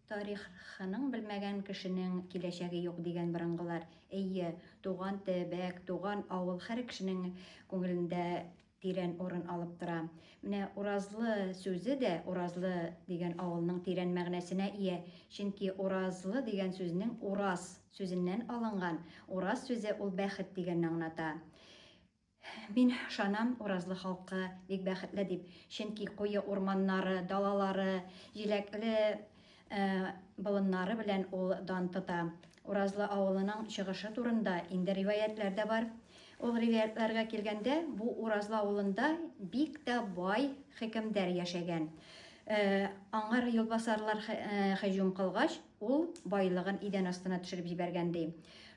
Тариххының белмәгән кешенең киләчәге юк дигән борынгылар. Эйе, туган төбәк, туган авыл хәр кешенең күңелендә тирән урын алып тора. Менә Уразлы сүзе дә Уразлы дигән авылның тирән мәгънәсенә ия, чөнки Уразлы дигән сүзнең Ураз сүзеннән алынган, Ураз сүзе ул бәхет дигәнне аңната. Мин ышанам, Уразлы халкы бик бәхетле дип, чөнки куе урманнары, далалары, җиләкле болыннары белән ул дан тота. Уразлы авылының чыгышы турында инде риваятьләр дә бар. Ул риваятьләргә килгәндә, бу Уразлы авылында бик тә бай хөкемдар яшәгән. Аңар юлбасарлар һөҗүм кылгач, ул байлыгын идән астына төшереп җибәргән, ди.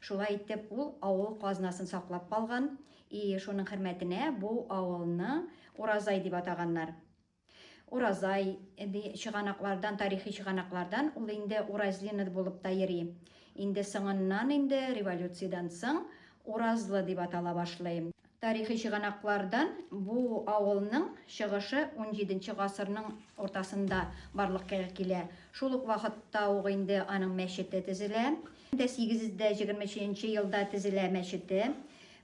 Шулай итеп, ул авыл казнасын саклап калган, и шуның хөрмәтенә бу авылны Уразай дип атаганнар. Уразай, ди, чыганаклардан, тарихи чыганаклардан ул инде Уразлинод булып та йөри. Инде соңыннан инде революциядән соң Уразлы дип атала башлый. Тарихи чыганаклардан бу авылның чыгышы унҗиденче гасырның уртасында барлыкка килә. Шул ук вакытта ук инде аның мәчете төзелә. Дә сигез дә җигерме өченче елда төзелә мәчете.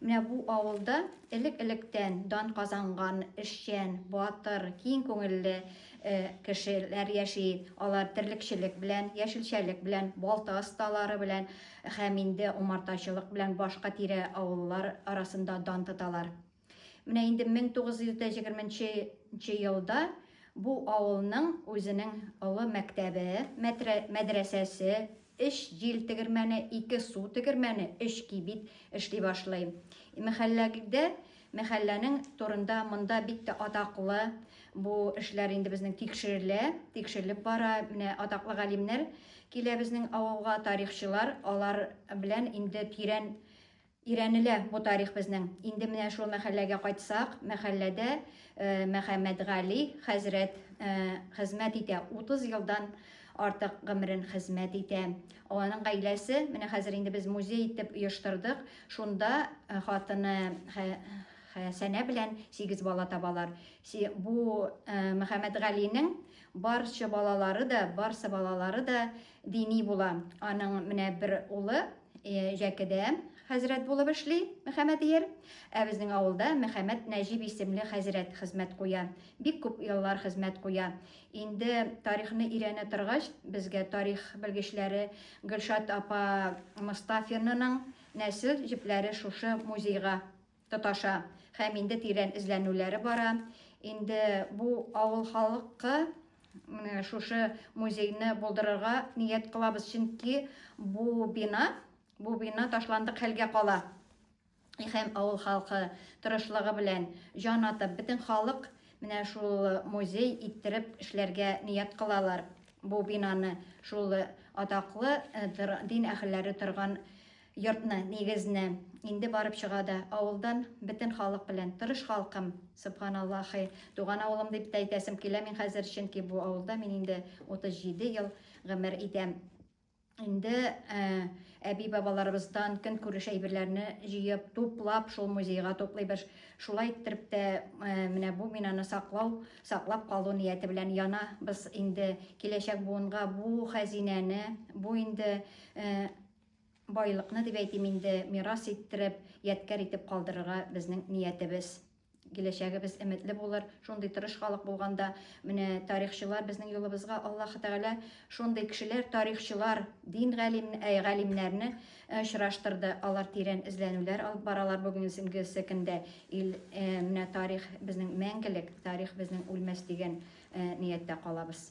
Менә бу авылда элек-электән дан казанган эшчән, батыр, киң күңелле кешеләр яши. Алар терлекчелек белән, яшелчәлек белән, балта осталары белән Һәм инде умартачылык белән башка тирә авыллар арасында дан тоталар. Менә инде 1920 елда бу авылның үзенең олы мәктәбе, мәдрәсәсе, өч җил тегермәне, ике су тегермәне, өч кибит эшли башлый. Мәхәлләгдә Мәхәлләнең турында монда бик тә атаклы бу эшләр инде безнең тикшерелә, тикшерелеп бара. Менә атаклы галимнәр килә безнең авылга, тарихчылар, алар белән инде тирән өйрәнелә бу тарих безнең. Инде менә шул мәхәлләгә кайтсак, мәхәлләдә Мөхәммәтгали хәзрәт хезмәт итә. 30 елдан артык гомерен хезмәт итә. Аның гаиләсе, менә хәзер инде без музей итеп оештырдык, шунда э, хатыны Хәсәнә белән сигез бала табалар. Бу э, Мөхәммәтгалинең барча балалары да, барсы балалары да дини була. Аның менә бер улы э, Җәкедә хәзрәт булып эшли Мөхәммәдияр. Ә безнең авылда Мөхәммәд Нәҗип исемле хәзрәт хезмәт куя. Бик күп еллар хезмәт куя. Инде тарихны өйрәнә торгач, безгә тарих белгечләре Гөлшат апа Мостафинаның нәсел җепләре шушы музейга тоташа һәм инде тирән эзләнүләре бара. Инде бу авыл халкы менә шушы музейны булдырырга ният кылабыз, чөнки бу бина, бу бина ташландык хәлгә кала. һәм авыл халкы тырышлыгы белән җан атып, бөтен халык менә шул музей иттереп эшләргә ният кылалар. Бу бинаны, шул атаклы дин әһелләре торган йортны, нигезне инде барып чыга да, авылдан бөтен халык белән, тырыш халкым, сөбханаллаһи, туган авылым дип тә әйтәсем килә мин хәзер, чөнки бу авылда мин инде 37 ел гомер итәм. Инде э, әби-бабаларыбыздан көнкүреш әйберләрне җыеп, туплап, шул музейга туплыйбыз. Шулай иттереп тә э, менә бу бинаны саклау, саклап калу нияте белән яна без инде киләчәк буынга бу хәзинәне, бу инде э, байлыкны дип әйтим инде мирас иттереп, ядкәр итеп калдырырга безнең ниятебез. Киләчәгебез өметле булыр, шундый тырыш халык булганда, менә тарихчылар безнең юлыбызга Аллаһы Тәгалә шундый кешеләр, тарихчылар, дин галим, ә, галимнәрне э, очраштырды. Алар тирән эзләнүләр алып баралар бүгенгесе көндә. Ил, э, менә тарих безнең мәңгелек, тарих безнең үлмәс дигән э, нияттә калабыз.